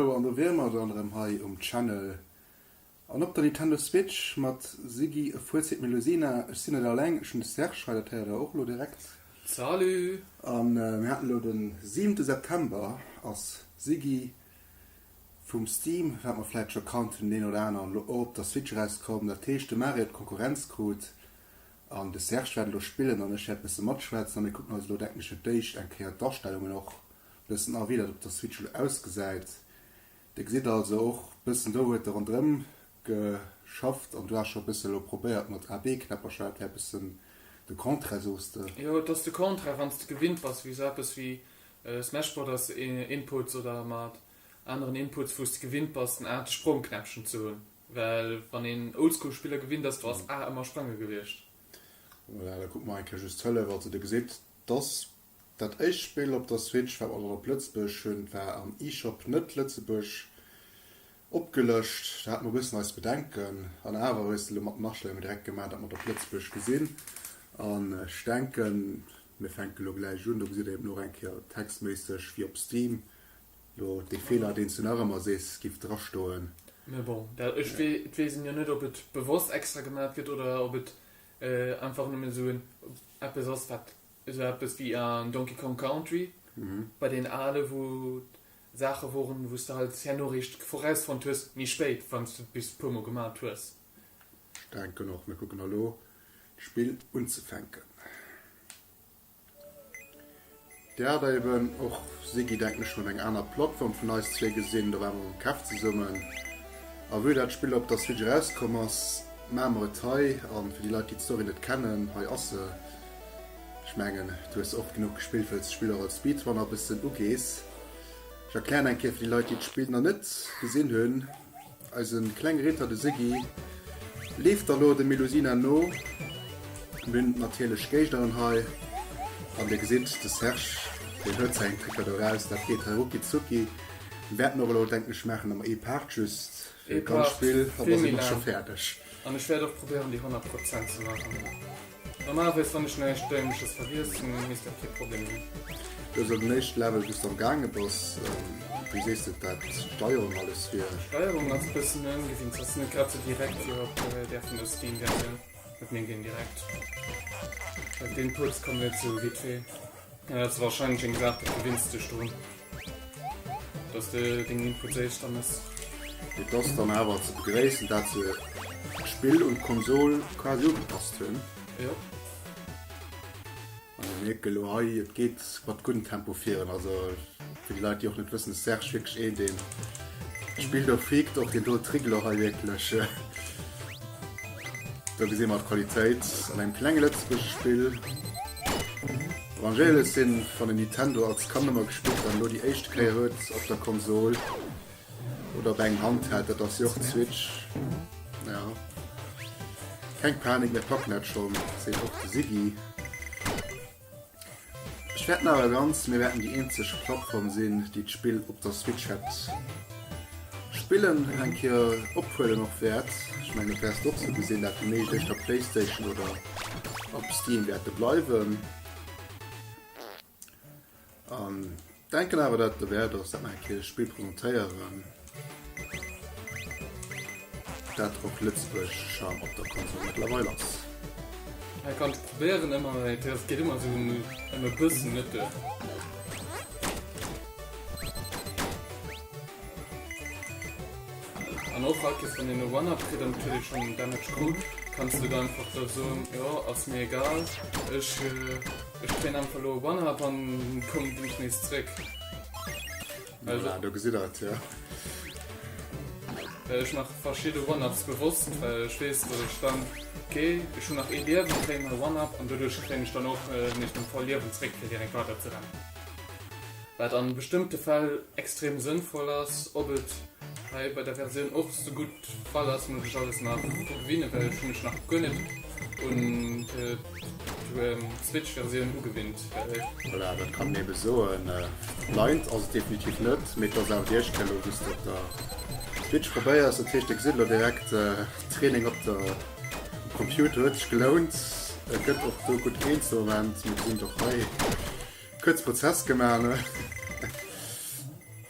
Hallo an do wier mer dann erëm hei um Channel an op der Nintendo Switch mat Siggy e fuer Zit Melusina. Ech sinn net alleng, ech hunn de Serge hei, dat héiert der och elo direkt. Salut! An mir haten elo den siwente September, ass Siggy vum Steam, wat mer vläit scho kannt vun den een oder aneren, elo och op der Switch erauskomm. Dat heescht de Mario huet Konkurrenz krut An de Serge wäert elo spillen an ech wäert bësse matschwätzen a mir kucken eis elo, denken ech, fir d'éischt eng Kéier d'Astellungen och bëssen a, wéi dat op der Switch elo ausgesäit. Dir gesitt also och bëssen, do huet e rondrëm geschafft an du has scho bësse elo probéiert mat AB-Knäppercher. Dat wär bësse de Contraire, soos de. Jo, et ass de Contraire, wann s de gewinnt bass, wéi esou eppes wéi Smash Brothers Inputs oder mat aneren Inputs, wou s de gewinnt bass, den A, de Sprongknäppchen ze hunn. Well wann een Oldschool Spiller gewinnt ass, do ass A ëmmer sprange gewiescht. Voilà, da kucke mer eng Kéier just d'Hëllef. Also Dir gesitt, dass dat éischt Spill op der Switch, wat mer dann op Lëtzebuerg hunn, war am eShop net Lëtzebuerg opgelëscht. Do hate mer e bëssen eis Bedenken. An awer hues de elo mat den Astellunge direkt gemaach, datt mer et op Lëtzebuerg gesinn. An ech denken, mir fänke lo gläich un, do gesitt Dir eben och eng Kéier textméisseg, wéi op Steam Lo dee Feeler deen s du nach ëmmer sees giff dra stoen. Mee bon, dat, ech wee, et weess een jo net op et bewosst extra gemat gëtt oder op et einfach nëmmen esou en eppes ass wat esou eppes wéi an Donkey Kong Country bei deen ale wou Saache woren wou s de halt keng Noriicht vorausfonnt hues méi spéit wann s du et bis puer mol gemat hues. Ech denken och mir kucken elo d'Spill unzefänken. Dir hat eben och Sigi denken ech schon eng aner Plattform vun eis zwee gesinn, do waren mer mam Kev zesummen a vue dat Spill op der Switch erauskomm ass maan mer et hei an fir déi Leit déi d'Story net kennen hei ass se. Ech mengen du hues se och genuch gespillt wëlls d'Spill och als Speedrunner bëssen ugees. Ech erklären eng Kéier fir déi Leit déi d'Spill na net gesinn hunn. Eisen kleng Ritter de Siggy leeft da lo dem Melusina no. Mir hunn natierlech Géigderen hei an dir gesitt de Serge deen huet säin Trickert eraus. Dat geet hei rucki zucki. Mir wäerten och elo denken ech maachen emmer ee Part just fir dat ganz Spill an da si mer scho fäerdeg. An ech wäert och probéieren déi 100 Prozent ze maachen. Normalerweis wann ech näischt Däimleches vergiessen, misst dat kee Problem sinn. Du hues den éischte Level, bis de am gaange bass. Wéi sees de dat d'Steierung alles wier? D'Steierung ass e bëssen ëmgewinnt, se ass net grad sou direkt wéi op där vun der Steam Versioun. Huet mir ginn direkt deen Puerz, kommen net sou vite fait. Et ass wahrscheinlech eng Saach dofir wéinst sech do dass de deng Info zéies dann ass. Et ass dann awer ze begréissen dat se d'Spill un d'Konsol quasi ugepasst hunn. Jo. An e mierke lo hei et geet mat guddem Tempo virun also. Fir déi Leit déi och net wëssen ass Serge wierklech een deen spillt och freakt och deen dote Triggelo hei wierklech. Do gesi mer d'Qualitéit an engem klenge lëtzebuergesche Spill. Vangelis sinn wann een Nintendo als Kand ëmmer gespillt hat an elo déi éischte Kéier huet op der Konsol oder op engem Handheld, dat ass jo och d'Switch. Jo. Keng Panik mir packen dat schonn, seet och de Siggy. Ech wäerten awer ganz, mir wäerten déi eenzeg Plattform sinn, déi d'Spill op der Switch hätt spillen an eng Kéier ophuelen och wäert. Ech mengen, dat wäers de och sou gesinn, dat déi meescht éischter Playstation oder op Steam wäerte bleiwen. Denken awer dat derwärt ass dat mer eng Kéier Spill presentéieren dat och Lëtzebuerg schon op der Konsole mëttlerweil ass. Ech kann et probéieren ëmmer mee et geet ëmmer esou ëm e bëssen net duer. An och haut wann een e One-Up kritt an kritt ee schonn den Damage gutt, kanns du dann einfach soen, jo ass mir egal ech. Ech hu meng Arm verluer op Annerhab an koum dunsch nees zréck. Voilà, do gesitt der et, jo. Ech maache verschidde One-Ups bewosst, well ech weess, datt ech dann, ok, ech hunn nach ee Liewen, kréien hei One-Up an doduerch kréien ech dann och nees meng voll Liewen zréck, fir direkt weider ze rennen. Wat a bestëmmte Fäll extrem sënnvoll ass. Ob et hei bei der Versioun och sougutt Fall ass muss ech alles nach gewinnen, well ech hunn mech nach guer net un d'Switch Versioun ugewinnt. Voilà, dat kann een eben soen. Blind ass et definitiv net, mee et ass awer déi éischt Kéier elo wou's de op der Switch probéiers, dat heescht de gesitt elo direkt Training op der Computer. Huet sech gelount, e gëtt och do gutt een ze Moment, mir gesinn et och hei, kuerz Prozess gemaach.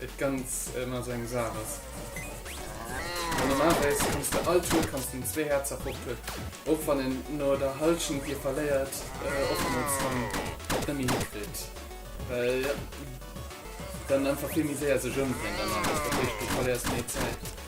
Et ganz ëmmer sou eng Saach ass. Well normalerweis kanns de all Tour kanns de en zwee Häerzer poppen, och wann en no der Halschent dee verléiert oftmools dann et net méi hikritt, well dann einfach vill méi séier sech ëmdréint an alles, dat heescht du verléiers méi Zäit.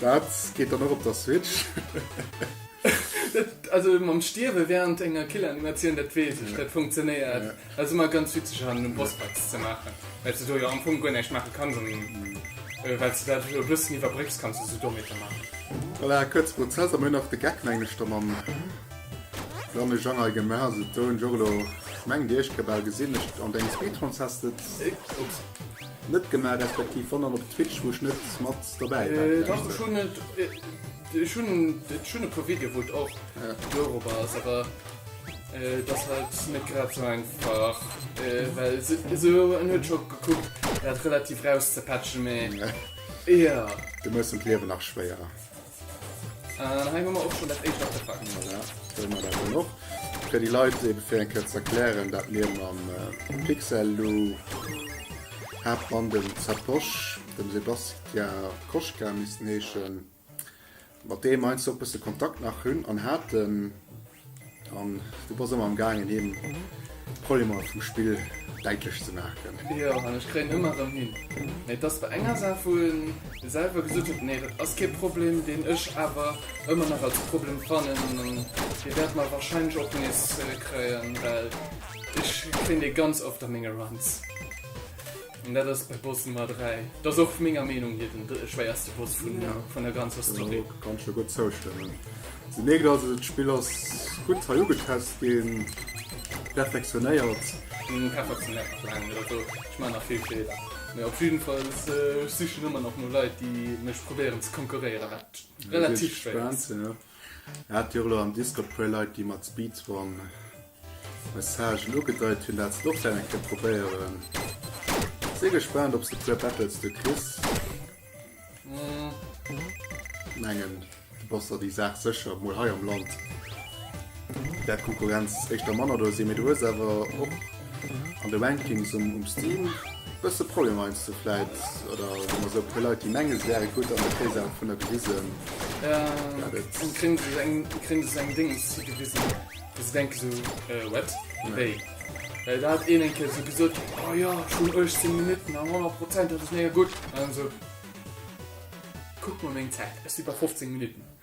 Dat geet dann och op der Switch. Also mam Stierwe während enger Killer-Animatioun, dat weess ech, dat funktionéiert. Dat ass ëmmer ganz witzeg an de Bossfights ze maachen, well s de do jo am Fong guer näischt maache kanns an well s de dat e bëssen iwwerbrécks, kanns de sou Dometer maachen. Voilà, kuerze Prozess a mir hunn nach de Geck mengechter mam Lanne Jangay gemaach. Also do hunn ech och elo, mengt ech, ke bal gesinn. An dengem Speedruns häss de et. Ups. Net gemaach respektiv wannn op Twitch wou ech net mat dobäi war vläicht. Dach ech hunn et, ech hunn ech hunn e puer Video wou et och dorop ass awer et ass halt net grad sou einfach well esou en huet scho gekuckt dat relativ rauszepatchen mee jo. Du méchs em d'Liewen nach schwéier. An hei hu mer och schonn dat éischt Artefakt. Voilà, do hu mer dat dann och. Fir déi Leit ebe fir eng Kéier ze erklären, dat mir mam Pixellou, Haaptmann, dem Zatosch, dem Sebastia Koschka missten heeschen, mat deem heiansdo e bësse Kontakt nach hunn an haten. An du bass ëmmer am gaangen him d'Problemer vum Spill däitlech ze maachen. Jo, an ech kréien ëmmer erëm hin. Mee et ass bei enger Saach wou en selwer gesot huet, nee dat ass kee Problem, deen ech awer ëmmer nach als Problem fannen an dee wäert mer wahrscheinlech och nees kréien, well ech kréien dee ganz oft a menge Runs. An dat ass bei Boss Nummer 3. Dat ass och menger Meenung hir den schwéierste Boss vun der ganzer Story. Jo, kann ech jo gutt zoustëmmen. Se mierkt also, d'Spill ass gutt hei ugetest ginn, perfektionéiert. Ech perfektionéiert nach laang net, also ech maachen nach vill Feeler. Mee op jidden Fall, ech sichen ëmmer nach no Leit, déi mech probéieren ze konkurréieren, wat relativ schwéier ass. Hat jo elo am Discord puer Leit déi mat Speedrun Messagen ugedeit hunn dat se et och wellen eng Kéier probéieren. Si gespaant ob s de puer Battles do kriss. Mengen du bass der déi Saach sécher mol hei am Land. Där d'Konkurrenz éischter manner do si, mee du hues awer och an de Rankings um Steam e bësse Problemer, heiansdo sou vläit, oder hu mer sou e puer Leit, déi mengen, se wäre gutt, an da kréie se awer vun der gewisen, dat et.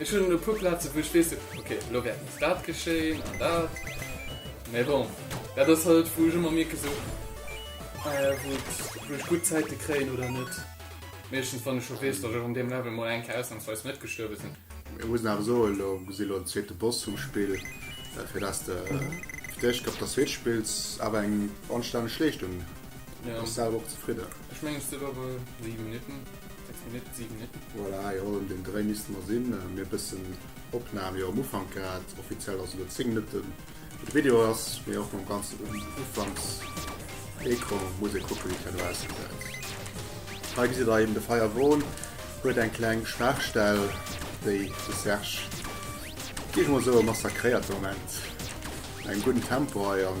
Ech hunn e puer Plazen, wou ech weess, ok, elo wäert nees dat geschéien an dat. Mee bon, dat ass halt, wou ech ëmmer mierken, sou, wou et, wou ech gutt Zäite kréien oder net. Meeschtens, wann ech scho weess, datt ech an deem Level mol eng Kéier ausnamsweis net gestuerwe sinn. Ech muss awer soen, elo si elo den zweete Boss vum Spill, fir dass de fir d'éischt Kéier op der Switch spills, awer eng anstänneg Leeschtung. Bass selwer och zefridden? Ech mengen, et sinn awer 7 Minutten. Voilà, jo, un deem Dréi misste mer sinn. Mir bëssen Opnam jo am Ufank grad. Offiziell ass elo 10 Minutte wou de Video ass, mee och mam ganzen Ufanks-Ecran muss ee kucken, wéi d'Hien elo ausgesäit. Hei gesitt der eben, de Firewall huet eng kleng Schwaachstell, déi de Serge, géif ech mol soen, massakréiert de Moment. Engem gudden Tempo hei an.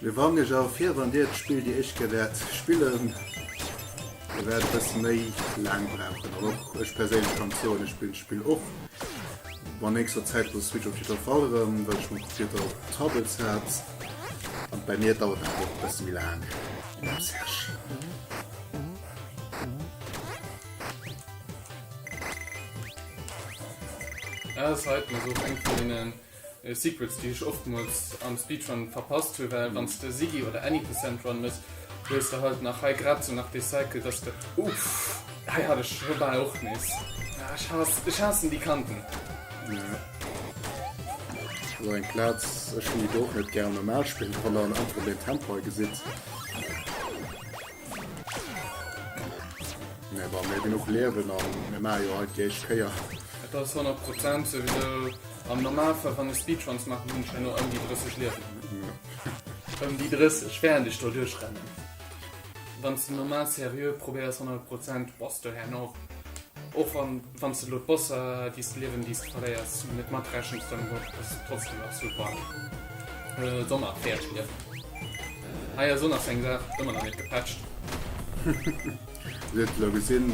Mir warnen iech awer vir, wann dir d'Spill déi éischt Kéier wäert spillen, dir wäert e bësse méi laang brauchen. An och ech perséinlech kann soen, ech spillen d'Spill och mat nächster Zäit op der Switch op jiddwer Fall erëm, well ech mol probéiert op Tablets hat, an bei mir dauert dat och e bësse méi laang. Dem Serge. Ass hei d'Musek eng vun deenen. Secrets déi ech oftmols am Speedrun verpasst hu well wanns de Siggy oder any percent Run mëss hues de halt nach hei grad sou nach dee Cycle dass de Uff hei hat ech scho bal och nees ah ech haass ech haassen déi Kanten. Jo sou eng Platz ech hun déi do och net gär am normal Spill wann der an einfach den Tempo hei gesitt. Mee wa mir genuch liewen a mir maache jo hei d'éischt Kéier. Et ass 100 Prozent souwisou. Am Normalfall, wann ech Speedruns maachen, hunn ech elo ëm déi 30 Liewen. Ëm déi 30, wärend ech do duerchrennen. Wann s de normal seriö probéiers 100 Prozent, bass de herno och wann. Wann s de elo d'Bosser, déi s de liewen, déi s de verléiers, net matrechens, dann ass et trotzdem absolut warm. D'Sonn a d'Päerdschliewen. Ah jo, Sonn ass eng Saach, huet ëmmer nach net gepätscht. Dir huet elo gesinn.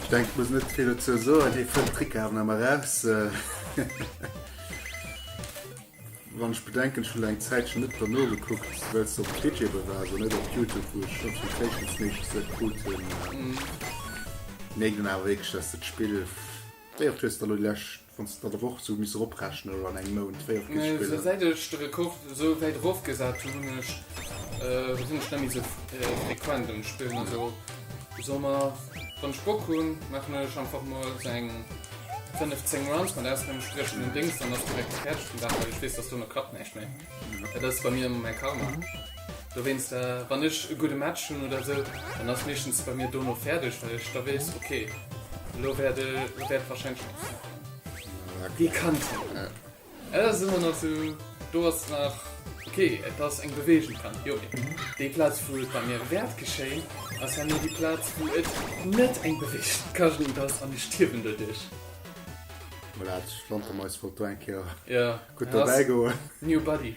Ech denken, ech muss net vill dozou soen. Hie fënnt d'Trickarden ëmmer raus. Wann ech bedenken, ech hunn eng Zäitchen net dra nogekuckt, well se op Digibel war, also net op Youtube, wou ech d'Notifications meeschtens net krut hunn, mierkt een awer wierklech, dass dat Spill, wéi oft hues de elo déi lescht, wann s de dat op Woch esou misst eroprechnen oder an engem Mount, wéi oft gëtt d'Spill dann. Säit ech de Rekord esou wäit erofgesat hunn, hunn ech, sinn ech net méi esou frequent um Spillen, also. Soll mer wann ech Bock hunn maachen ech einfach mol sou eng 5, 10 Runs mat aus dem entspriechenden Dings, dann ass direkt fäerdeg den Dag, well ech weess dass dono klappt näischt méi. Dat ass bei mir mäi Karma. Dowéinst wann ech e gudde Match hunn oder sou, dann ass meeschtens bei mir dono fäerdeg, well ech da weess, okay elo wäert wäert wahrscheinlech. Wie kannt hien? Et ass ëmmer nach sou, do ass nach, ok, et ass eng Beweegung dran, jo, mee déi Plaz, wou et bei mir wäert geschéien, ass herno déi Plaz, wou et net eng Beweegung ka ginn, et ass, an ech stierwen doduerch. Voilà, d'Flantermais wollt do eng Kéier gutt dobäigoen. New body.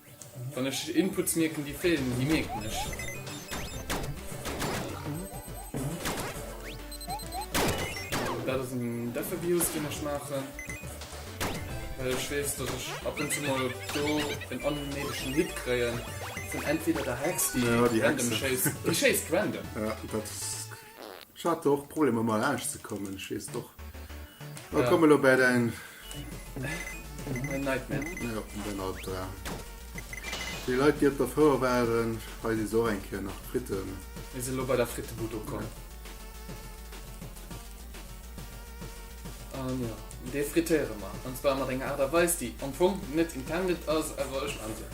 Wann ech Inputs mierken déi feelen, déi mierken ech. Dat ass en Deffer-Bios deen ech maachen, well ech weess datt ech ab und zu mol do en onnéidegen Hit kréien vun entweder der Hex déi random schéisst, déi schéisst random. Ech hat och Problemer mei laanscht ze kommen, ech weess och. Mä komme elo bäi däin. Mein Nightmare. Jo, däin Albdram. Déi Leit, déi op der Fouer waren, hei si se och eng Kéier nach Fritten. Mir sinn elo bei der Frittebud ukomm. An jo, déi frittéiere mer. An zwar mat enger Aart a Weis, déi am Fong net intended ass, awer ech maan se.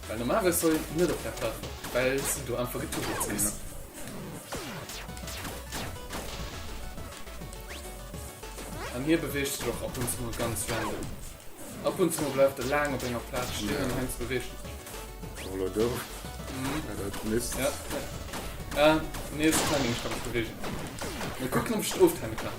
Well normal wärst du net op der Platt, well se do einfach getuckelt sinn. An hie beweegt sech och ab und zu mol ganz random. Ab und zu mol bleift e laang op enger Plaz stinn an heiansdo beweegt e sech. Voilà, do. War dat Mist? Ja, ja. Ah, nee, se kann een sech grad nach beweegen. Mee kuck, ob ech et oftimmen kann.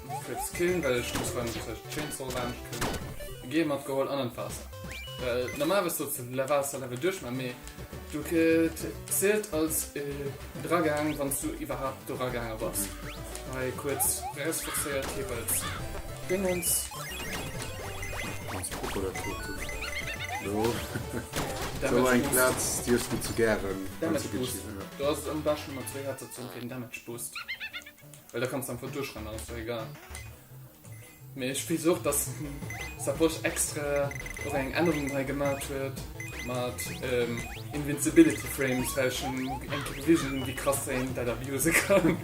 Fritz Killen, well ech muss beim Chainsaw laanscht kommen, Gear matgeholl an an d'Waasser. Well normal wëss do ze Waasserlevel duerch ma mee do zielt als eragaang wann s du iwwerhaapt do eragaange bass. Hei kuerz Res forcéiert, Keep als Dingens. Damage Boost, do ass et am beschten mat zwee Headsets fir den Damage Boost. Well da kanns de einfach duerchrennen, dann ass der egal. Mee ech weess och, dass Saposch extra och eng Ännerung hei gemat huet mat Invincibility Frames, well ech eng Kéier gewisen hunn, wéi krass een dat abuse kann.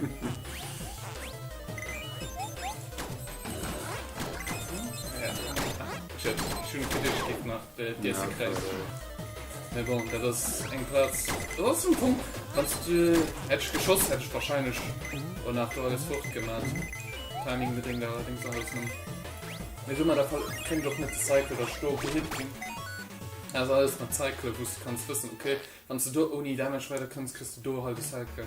Shit, ech hunn e Glitch géint gemaach. Dir se kréis. Mee bon, dat ass eng Plaz. Do ass en Punkt. Wann s du. Hätt ech geschoss, hätt ech warscheinlech o nach do alles fort gemat. Timing bedéngt allerdéngs alles nëmmen. Mee do mat der Pal. Kéint och net de Cycle da sto blitt ginn. Dat ass alles mat Cycle, wou s du kanns wëssen, okay, wann s du do ouni Damage weiderkënns, kriss du do hei de Cycle.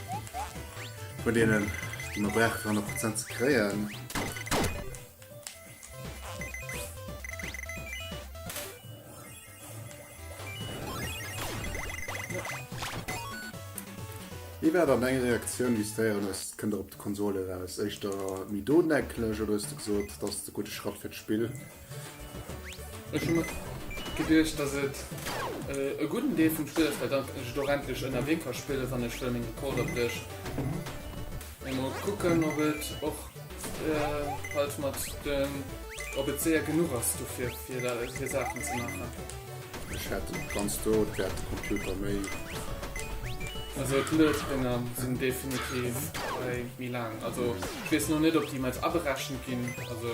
Vun denen die man brauche fir 100 Prozent ze kréien. Wie war dann eng Reaktioun wie d'Héieren hues kënnt der op d'Konsole eraus? Éischter méi dodenecklech oder hues de gesot, dass de gudde Schratt fir d'Spill? Ech hu mer geduecht, dass et e gudden Deel vum Spill ass, well dann ech et och endlech ënnerwee ka spillen, wann ech wëll meng Rekorder bréchen. Mee mol kucken, ob et och halt mat den, ob et séier genuch ass dofir, fir Saachen ze maachen. Ech hätt et ganz do, et wäert de Computer méi. Also d'Loadbringer sinn definitiv hei méi laang. Also ech weess elo net, ob déi emol aberechent ginn. Also.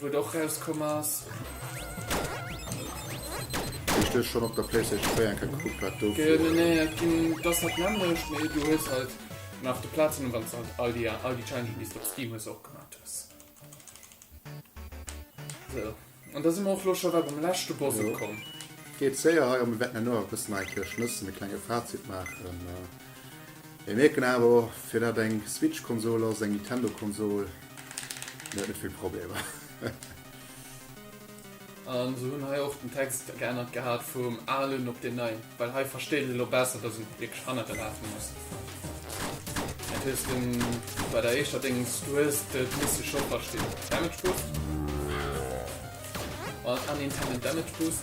Wou et och rauskomm ass. Wéi ech dech schonn op der PlayStation 4 eng Kéier gekuckt hat, do. Genominéiert ginn. Et ass dat nämmlecht, mee du hues halt nach de Platinum, wann s de halt all déi all déi Challengen, déi s de op Steam hues, och gemaach hues. Sou, an da si mer och elo scho bal beim leschte Boss ukomm. Geet séier hei. A mir wäerten herno awer e bëssen hei fir Schnëssen e klenge Fazit maachen. Mir mierken awer och, fir dat eng Switch-Konsol ass, eng Nintendo-Konsol, net vill Problemer. An se hunn hei och den Text geännert gehat vum alen op deen neien, well hei versteet een elo besser, dass en wierklech hannergelaf ass. Dat hues de bei der éischter Déngens, du hues de misse scho verstinn. Damage Boost. An Unintended Damage Boost.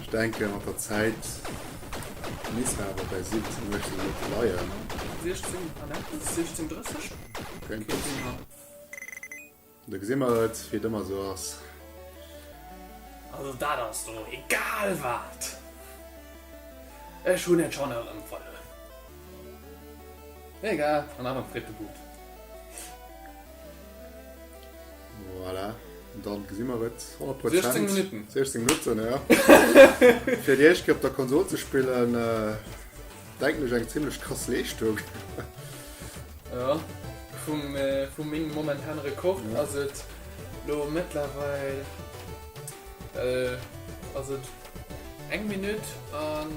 Ech denken mat der Zäit misst der awer bäi 17, 18 net bleien. 16 an eppes, 16, 30? Keng Ahnung. Do gesi mer et, wéi et ëmmer esou ass. Also dat ass do egal wat, ech hunn et schonn erëm verluer. Egal, an awer freet de But. Voilà, an dann gesinn mer et, 100 Prozent. 16 Minutten. 16 Minutten, ja. Fir déi éischt Kéier op der Konsol ze spillen, denken ech eng zimlech krass Leeschtung. Ja, vum, vu mengem momentane Rekord ass et elo mëttlerweil, ass et eng Minutt an.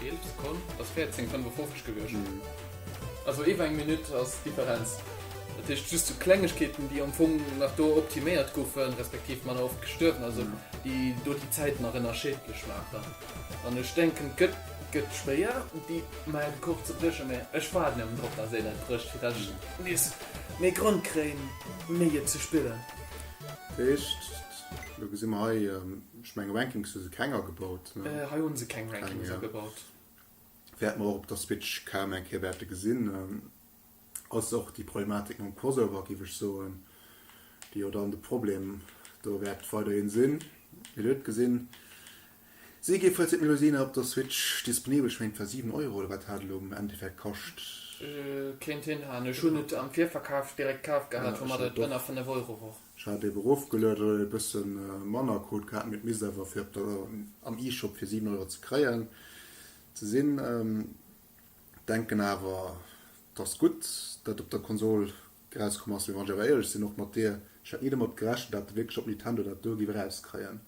Eeleft Sekonn ass 14, 55 gewiescht. Also iwwer eng Minutt ass d'Differenz. Dat heescht just sou Klengegkeeten, déi am Fong nach do optiméiert goufen, respektiv manner oft gestuerwen ass, déi do déi Zäit nach ënnerschiedlech maachen. An ech denken, d'gëtt gëtt schwéier, déi mei Rekord ze bréchen, mä ech waarden ierwen drop, datt een et brécht, fir datt ech nees méi Grond kréien, méi et ze spillen. Dat heescht, elo gesi mer hei. Ech menge Rankings hu se keng agebaut, ne? Hei hu se keng Rankings agebaut. Wäerte mer och op der Switch kaum eng Kéier wäerte gesinn. Ass och déi Problematik mam Crossover, géif ech soen, déi jo dann de Problem do wäert weiderhin sinn. Mir huet gesinn, si gi vläicht méi lues op der Switch disponibel. Ech menge, et war 7 Euro oder wat hat elo am Endeffekt kascht? Kéint hinhaen. Ech hunn et am Virverkaf direkt kaf gehat, woumat et ënner 5 Euro wor. Ech hat ebe rofgelueden oder e bësse manner krut gehat, mee et misst awer fir op der am E-Shop fir 7 Euro ze kréien ze sinn. Denken awer et ass gutt dat op der Konsol erauskomm ass, mee wann ech awer éierlech sinn och mat dir, ech hat ni domat gerechent dat de wierklech op Nintendo dat do giff erauskréien.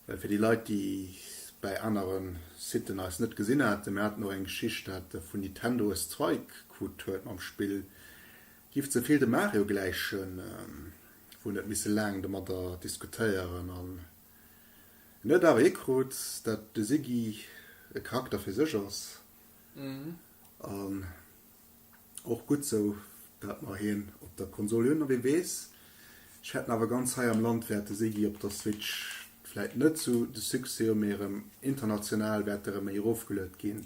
Well fir déi Leit déi et bäi anere Siten eis net gesinn haten, mir haten och eng Geschicht dat vun Nintendo e Strike krut huet mam Spill, Giff ze vill dem Mario gläichen, wou net misse laang domadder diskutéieren an en huet awer hikrut dat de Siggy e Charakter fir sech ass an och gutt sou dat mer hien op der Konsol hunn. A wee weess, ech hätten awer ganz hei am Land wäert de Siggy op der Switch vläit net sou de Succès hu mee erëm international wäert e rëm méi erofgeluet ginn.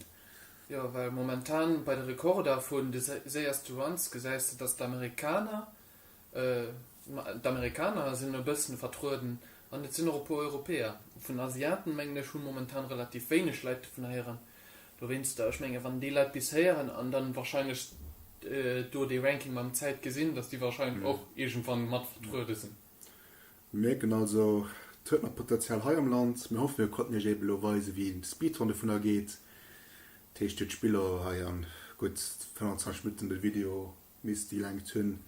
Jo, well momentan bei de Rekorder vun de séierste Runs gesäis de, datt d'Amerikaner, d'Amerikaner sinn e bëssen vertrueden an et sinn och e puer Europäer. Vun den Asiaten, mengen ech, hu momentan relativ wéineg Leit dovun héieren. Dowéinster, ech menge wann déi Leit bis héieren an dann warscheinlech do dee Ranking mam Zäit gesinn, datt déi warscheinlech och iergendwann mat vertruede sinn. Mir mierken also, et huet nach Potential hei am Land. Mir hoffen, mir konnten Iech eben elo weisen, wéi een Speedrun dovun ergeet. Dat heescht, Dir hutt d'Spiller hei an gutt 25 Minutten de Video misst déi Längt hunn,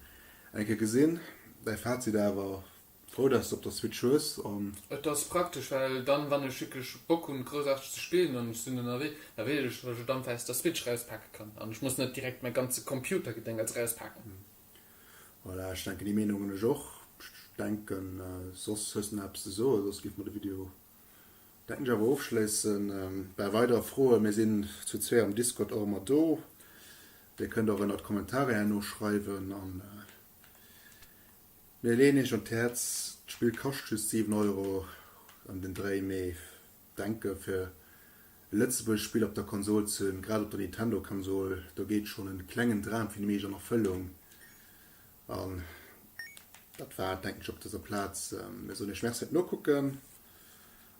eng Kéier gesinn. Däi Fazit awer, Frou, dass s de op der Switch hues an. Et ass praktesch, well dann, wann ech wierklech Bock hunn, Groussaarteges ze spillen an ech sinn ënnerwee, da weess ech, dass ech et einfach aus der Switch erauspaken kann an ech muss net direkt mäi ganze Computergedéngerts erauspaken. Voilà, ech denken déi Meenung hunn ech och. Ech denken soss hues de nach eppes ze soen, soss géife mer de Video denken ech awer ofschléissen. Bei weider Froen, mir sinn zu zwee am Discord och ëmmer do, dir kënnt och ënnert d'Kommentare herno schreiwen a mir leeën iech un d'Häerz, d'Spill kascht just 7 Euro ëm den Dréi, mee. Denke fir e Lëtzebuerg Spill op der Konsol ze hunn, grad op der Nintendo Konsol, do geet schonn en klengen Dram fir déi meescht an Erfëllung. An dat war et denken ech op dëser Plaz. Mir soen iech Merci fir d'Nokucken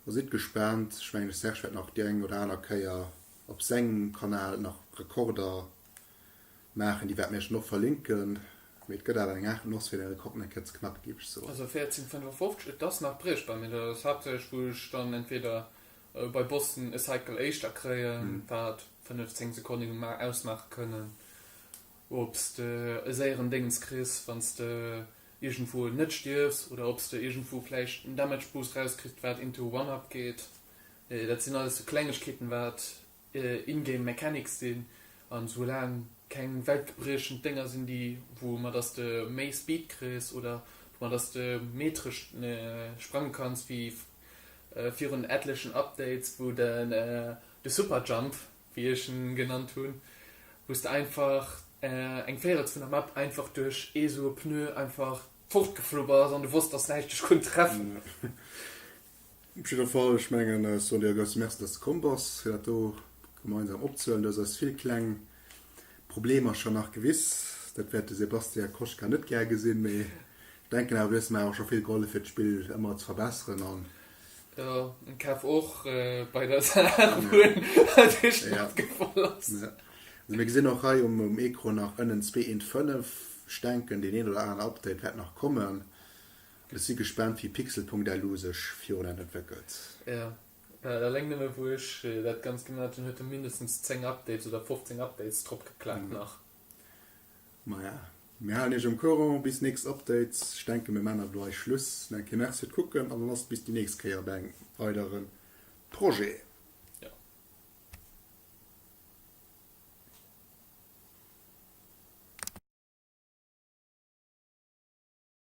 a sidd gespaant. Ech mengen de Serge wäert nach déi eng oder aner Kéier op sengem Kanal nach Rekorder. maachen. Déi wäerte mir iech dann och verlinken. Mee et gëtt awer eng Art Noss, fir de Rekord eng Kéier ze knacken, géif ech soen. Also 14,55, et ass nach briechbar, mee dat ass haaptsächlech wou ech dann entweder bei Boston e Cycle éischter kréien, wat 5, 10 Sekonnen ausmaache kënnen, ob s de e séieren Déngens kriss, wann s de iergendwou net stierfs oder ob s de iergendwou vläicht en Damage Boost rauskriss, wat into One-Up geet. Dat sinn alles sou Klengegkeeten, wat In-game Mechanics sinn an esou laang keng weltgebriechend Dénger sinn déi wou mat dass de méi Speed kriss oder mat dass de méi tëscht sprange kanns wéi virun etlechen Updates wou de de Super Jump wéi ech en genannt hunn wous de einfach eng Véirels vun der Map einfach duerch ee sou e Pneu einfach fort geflu bass an de wosst dass näischt dech konnt treffen. Op jidder Fall, ech mengen, ech soen dir e grouse Merci, dass de komm bass, fir dat do gemeinsam opzehuelen. Du hues eis vill kleng Problemer scho nach gewiss. Dat wäert de Sébastien Koschka net gär gesinn, mee ech denken awer, du hues mer awer scho vill gehollef, fir d'Spill ëmmer ze verbesseren. An. Jo, en Caf och bei der Saach, wou en duerch d'Matt gefall ass. Jo. Also mir gesinn och hei um Ecran nach ënnen zwee eent fënnef. Ech denken, deen een oder aneren Update wäert nach kommen. Ech si gespaant wéi Pixel.lu sech virun entwéckelt. Jo, eleng nëmme wou ech dat Ganzt gemaat hun huet en mindestens 10 Updates oder 15 Updates drop geklappt nach. Maja, mir halen iech am Courant bis nächst Update. Ech denken mir maan awer do eis Schluss. Nach eng Kéier Merci fir d'Kucken an dann ass et bis déi nächst Kéier bei engem weidere Projet. Jo.